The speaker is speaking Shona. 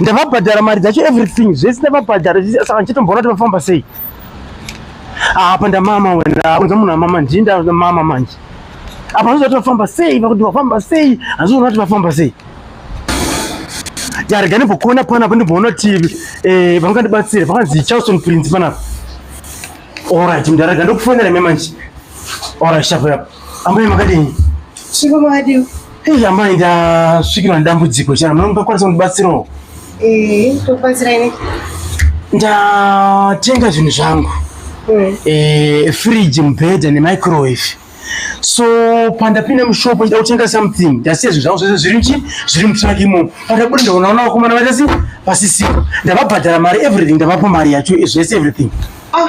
ndavabhadhara mari dzacho everything zvese ndavabhadhara saka ndichitomboona kuti vafamba sei apa ndamama wena kunza munhu amama ndii ndamama manje apa handizoona kuti vafamba sei vakuti vafamba sei handizoona kuti vafamba sei yarega ndimbokuona pana apo ndimboona kuti eh, vangandibatsira vakanzi charleston prince panapa orit mndarega ndokufonera me manje orit shapo yapo ambuye makadini Hei amai ndasvikirwa nedambudziko chana munokwanisa kundibatsirawo? Eh, tokubatsirai nei? Ndatenga zvinhu zvangu. Mm. Eh, fridge, mubhedha nemicrowave. So pandapinda mushop ndida kutenga something ndasiya zvinhu zvangu zvese zviri nchi zviri mutraki imomo. Pandabuda ndaonaona vakomana vaitasi pasisipo. Ndavabhadhara mari everything ndavapa mari yacho zvese everything. Ah.